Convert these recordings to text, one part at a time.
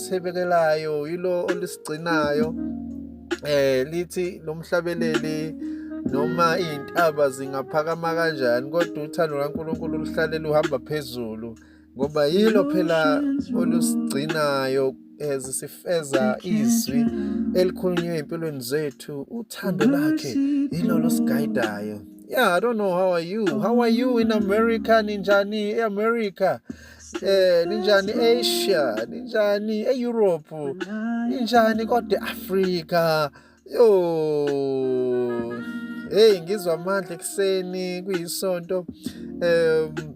olisebekelayo yilo olisigcinayo eh lithi lomhlabeleli noma izintaba zingaphakama kanjani kodwa uthando kaNkuluNkulu luhlale luhamba phezulu ngoba yilo phela olusigcinayo ezisifeza eh, izwi elikhulunywe empilweni zethu uthando lakhe yilo losigayidayo yeah i don't know how are you how are you in america ninjani eamerica Eh ninjani Asia, ninjani eEurope, ninjani kodwa eAfrica. Yo. Hey ngizwa amandla ekseni kuyisonto. Um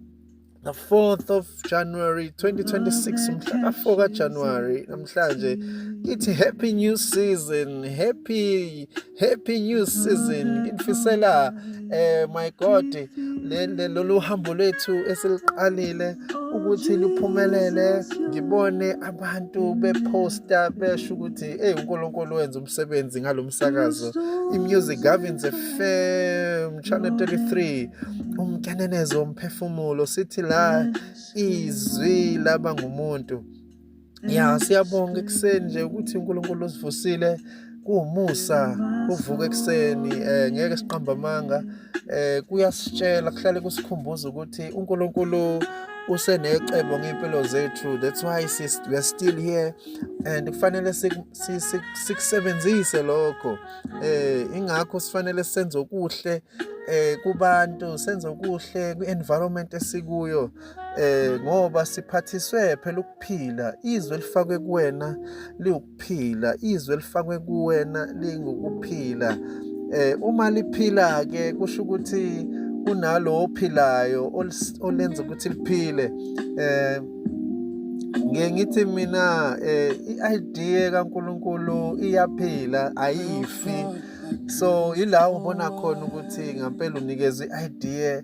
the 4th of January 2026 mhla ka4 ka January namhlanje ngithi happy new season happy happy new season ngikufisela eh my god le lolu hambo lwethu esiliqalile ukuthi luphumelele ngibone abantu beposta besho ukuthi hey uNkulunkulu wenza umsebenzi ngalomsakazo imusic governs FM channel 33 umkenenezo womphefumulo sithi la izwi laba ngumuntu ya siyabonga ekuseni nje ukuthi uNkulunkulu usivusile kuwumusa uvuka ekuseni eh ngeke siqamba amanga eh kuyasitshela kuhlale kusikhumbuza ukuthi uNkulunkulu usenecebo ngempilo zethu that's why sis we are still here and kufanele sikusebenzise lokho eh ingakho sifanele senze okuhle eh kubantu senze okuhle kwi environment esikuyo eh ngoba siphathiswe phela ukuphila izwe elifakwe kuwena liwukuphila izwe elifakwe kuwena lingukuphila eh uma liphila ke kusho ukuthi kunalo ophilayo olenza ukuthi liphile eh ngiye ngithi mina eh i-idea kaNkuluNkulu iyaphila ayifi so yila ubona khona ukuthi ngempela unikezwe i-idea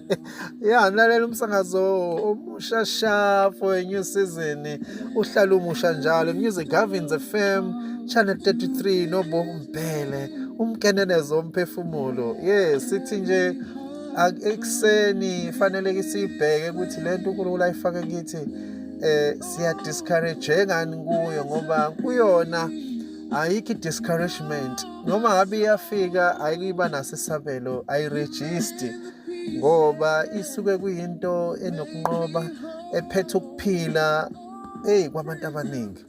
ya mlalela umsakazo omusha sha for a new season uhlala umusha njalo music Gavins FM channel 33 nobo mbhele umkenenezo omphefumulo yes sithi nje ekuseni fanele siyibheke ukuthi lento uNkulunkulu ayifake kithi eh siya discourage ngani kuyo ngoba kuyona ayikho i-discouragement noma ngabe iyafika ayikuyiba naso isabelo ayirejisti ngoba isuke kuyinto enokunqoba ephethe ukuphila eyi kwabantu abaningi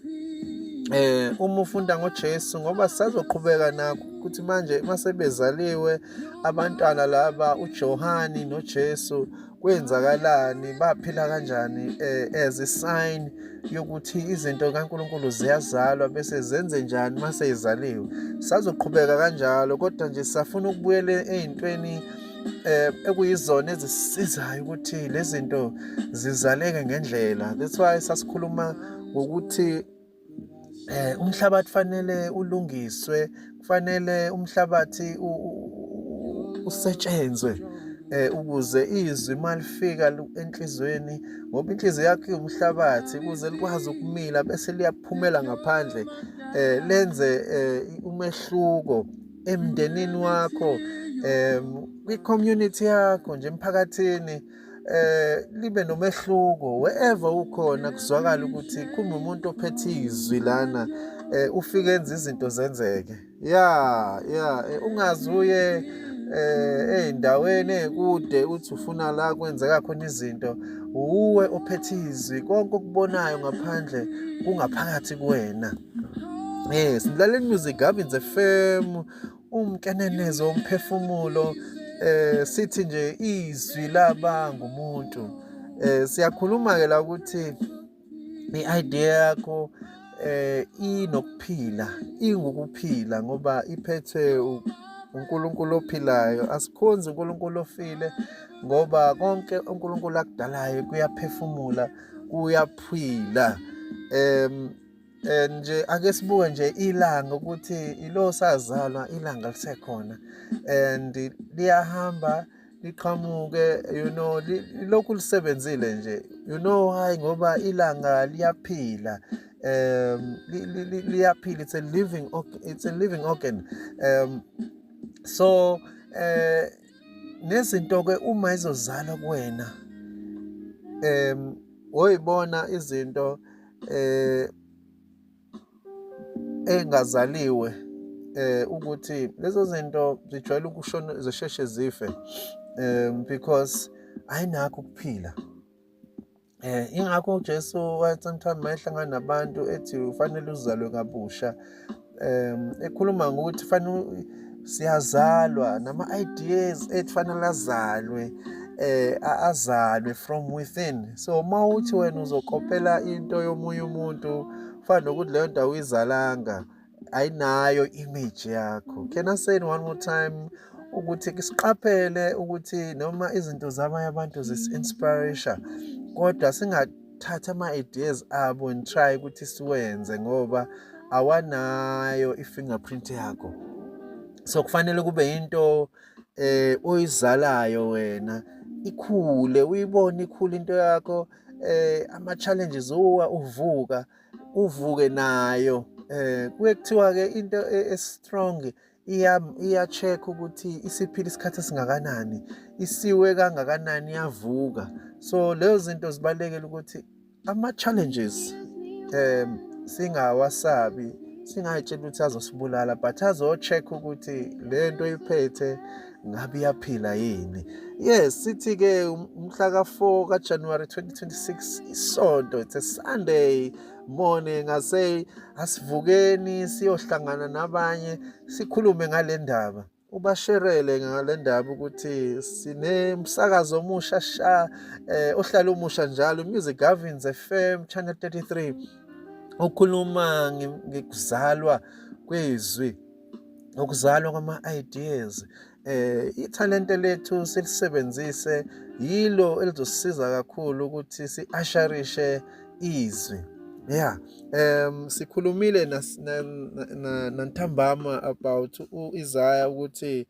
eh uma ufunda ngoJesu ngoba sisazoqhubeka nakho ukuthi manje masebezaliwe abantwana laba uJohani noJesu kwenzakalani baphila kanjani eh, as a sign yokuthi izinto kaNkuluNkulu ziyazalwa bese zenze njani mase izaliwe sazoqhubeka kanjalo kodwa nje safuna ukubuyela ezintweni eh ekuyizona ezisizayo ukuthi lezinto zizaleke ngendlela that's why sasikhuluma ngokuthi eh umhlabathi fanele ulungiswe kufanele umhlabathi usetshenzwe eh ukuze izwi malifika enhlizweni ngoba inhliziyo yakhe umhlabathi ukuze likwazi ukumila bese liyaphumela ngaphandle eh lenze eh, umehluko emndenini wakho eh kwi community yakho nje emphakathini eh libe nomehluko wherever ukhona kuzwakala ukuthi kumbe umuntu ophethe izwi lana eh ufike enza izinto zenzeke yeah yeah eh, ungazi uye eh ezindaweni ezikude uthi ufuna la kwenzeka khona izinto uwe ophethe izwi konke okubonayo ngaphandle kungaphakathi kuwena Yes, Mlaleli Music Gavin FM umkenenezo womphefumulo eh sithi nje izwi laba ngumuntu eh siyakhuluma ke la ukuthi i-idea yakho eh inokuphila ingukuphila ngoba iphethwe uNkulunkulu ophilayo asikhonzi uNkulunkulu ofile ngoba konke uNkulunkulu akudalayo kuyaphefumula kuyaphila em Eh, nje ake sibuke nje ilanga ukuthi ilo sazalwa ilanga lisekhona and liyahamba liqhamuke you know lokhu lisebenzile nje you know why ngoba ilanga liyaphila um liyaphila it's a living it's a living organ um so eh nezinto ke uma izozala kuwena um oyibona izinto eh engazaliwe eh ukuthi lezo zinto zijwayele ukushona zisheshe zife um because ayinakho ukuphila Eh ingakho uJesu wathi sometimes mayehlangana nabantu ethi ufanele uzalwe kabusha um ekhuluma ngokuthi fanele siyazalwa nama-ideas ethu fanele azalwe eh azalwe from within so uma uthi wena uzokopela into yomunye umuntu fana nokuthi leyo nto awuyizalanga ayinayo image yakho can i say one more time ukuthi siqaphele ukuthi noma izinto zabanye abantu zisi-inspiration kodwa thatha ama-ideas abo and try ukuthi siwenze ngoba awanayo i-fingerprint yakho so kufanele kube yinto eh oyizalayo wena ikhule uyibone ikhule into yakho eh ama challenges uwa uvuka uvuke nayo eh kuye kuthiwa ke into e, e strong iya-check-a ukuthi isiphila isikhathi esingakanani, isiwe kangakanani, iyavuka. So lezo zinto zibalulekile ukuthi ama-challenges um singawasabi, singay'tsheli ukuthi azosibulala but azo-check-a ukuthi le nto oyiphethe ngabe iyaphila yini. Yes, sithi-ke umhla ka-four kaJanuwari twenty twenty-six isonto, it's a Sunday. morning i say asivukeni siyohlangana nabanye sikhulume ngale ndaba ubasherele ngale ndaba ukuthi sinemsakazo omusha sha eh, ohlala umusha njalo music gavins fm channel 33 okhuluma ngikuzalwa kwezwi ukuzalwa kwama-ideas eh ithalente lethu silisebenzise yilo elizosisiza kakhulu ukuthi siasharishe izwi yeah um sikhulumile nantambama about uIsaiah ukuthi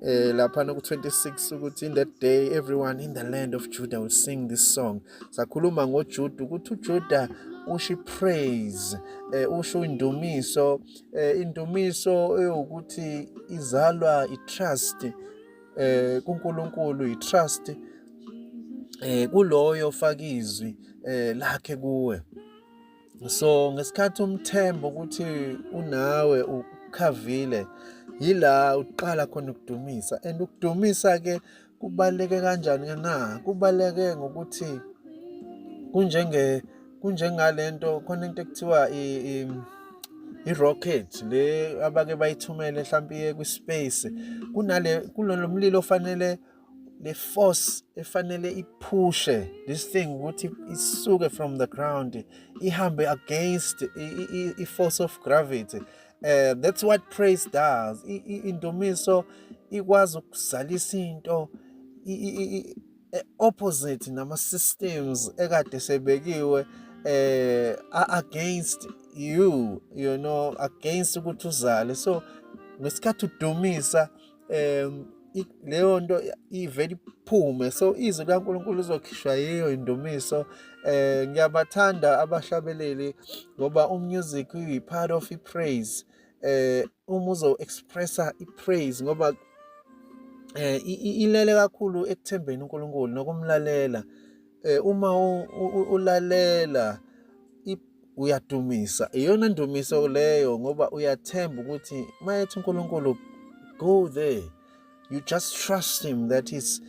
eh lapha no 26 ukuthi in that day everyone in the land of Judah will sing this song sakhuluma ngoJuda ukuthi uJuda ushi praise eh usho indumiso eh, indumiso eyokuthi izalwa itrust eh kuNkulunkulu itrust eh kuloyo fakizwi eh lakhe kuwe so ngesikhathi umthemba ukuthi unawe ukhavile yila uqala khona ukudumisa and ukudumisa ke Kubaluleke kanjani ke na? Kubaluleke ngokuthi kunjenge kunjengalento khona into ekuthiwa i, i irocket le abake bayithumele mhlawumbe iye kwispace kunale kulona mlilo ofanele le force efanele iphushe this thing ukuthi isuke from the ground ihambe against i force of gravity uh, that's what praise does indumiso ikwazi ukuzalisa into e, opposite nama systems ekade sebekiwe eh against you you know against ukuthi uzale so ngesikhathi udumisa um leyo nto ivele iphume so izwi likaNkulunkulu lizokhishwa yiyo indumiso eh ngiyabathanda abahlabeleli ngoba umusic uyi part of ipraise eh uma uzo expressa ipraise ngoba eh ilele kakhulu ekuthembeni uNkulunkulu nokumlalela eh uma ulalela uyadumisa iyona ndumiso leyo ngoba uyathemba ukuthi mayethi uNkulunkulu go there you just trust him that he's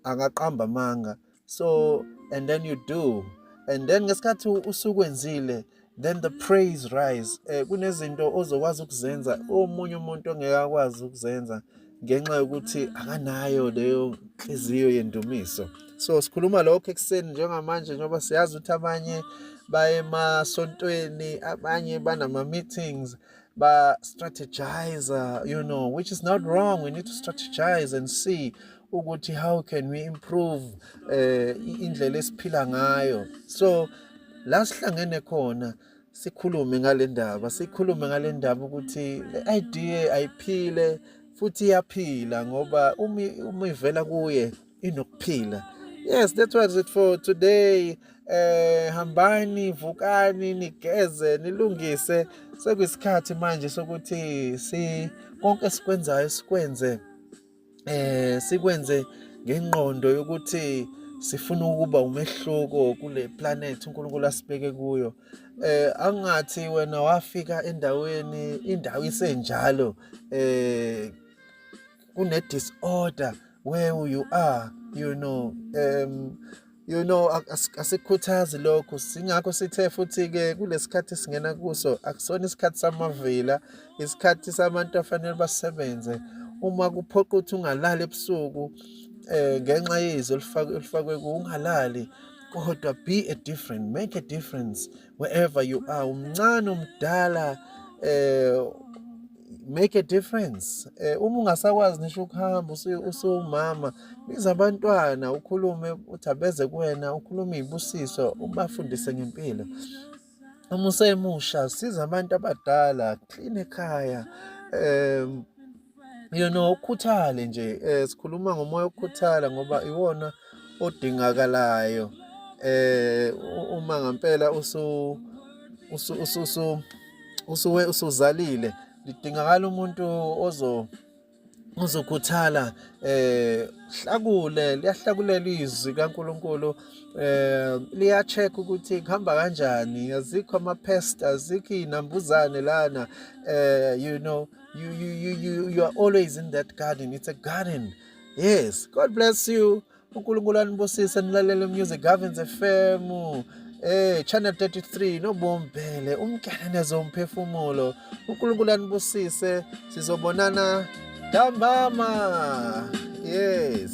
akaqamba amanga so and then you do and then ngesikhathi usukwenzile then the praise rise eh kunezinto ozokwazi ukuzenza omunye umuntu ongeke akwazi ukuzenza ngenxa yokuthi akanayo leyo nhliziyo yendumiso so sikhuluma lokho ekuseni njengamanje njengoba siyazi ukuthi abanye baye emasontweni abanye banama-meetings ba-strategizer you know which is not wrong we need to strategize and see ukuthi how can we improve um indlela esiphila ngayo so la sihlangene khona sikhulume ngale ndaba sikhulume ngale ndaba ukuthi le idea ayiphile futhi iyaphila ngoba uma uma ivela kuye inokuphila yes that was it for today eh hambani vukani nigeze nilungise sekuyisikhathi manje sokuthi si konke sikwenzayo sikwenze eh sikwenze ngenqondo yokuthi sifuna ukuba umehluko kule planet uNkulunkulu asibeke kuyo eh angathi wena wafika endaweni indawo isenjalo eh kune disorder where you are you know um you know asikhuthazi lokho singakho sithe futhi ke kulesikhathi singena kuso akusona isikhathi samavila isikhathi sabantu afanele basebenze uma kuphoqa ukuthi ungalali ebusuku eh ngenxa yezwi olifakwe olifakwe kungalali kodwa be a different make a difference wherever you are umncane umdala eh make a difference eh uma ungasakwazi nisho ukuhamba usuwumama biza abantwana ukhulume uthabeze kuwena ukhulume ibusiso ubafundise ngempilo uma usemusha siza abantu abadala clean ekhaya um you know ukhuthale nje eh sikhuluma ngomoya okukhuthala ngoba iwona odingakalayo eh uma ngempela usu usu usu usuwe usuzalile lidingakala umuntu ozo uzokhuthala eh hlakule liyahlakulela izwi kaNkuluNkulu eh liya check ukuthi kuhamba kanjani azikho ama pest azikho inambuzane lana eh you know you you you you are always in that garden it's a garden yes god bless you unkulunkulu anibusise nilalele music havens fm Eh channel 33 nobombhele umkenenezo umphefumulo uNkulunkulu anibusise sizobonana ntambama yes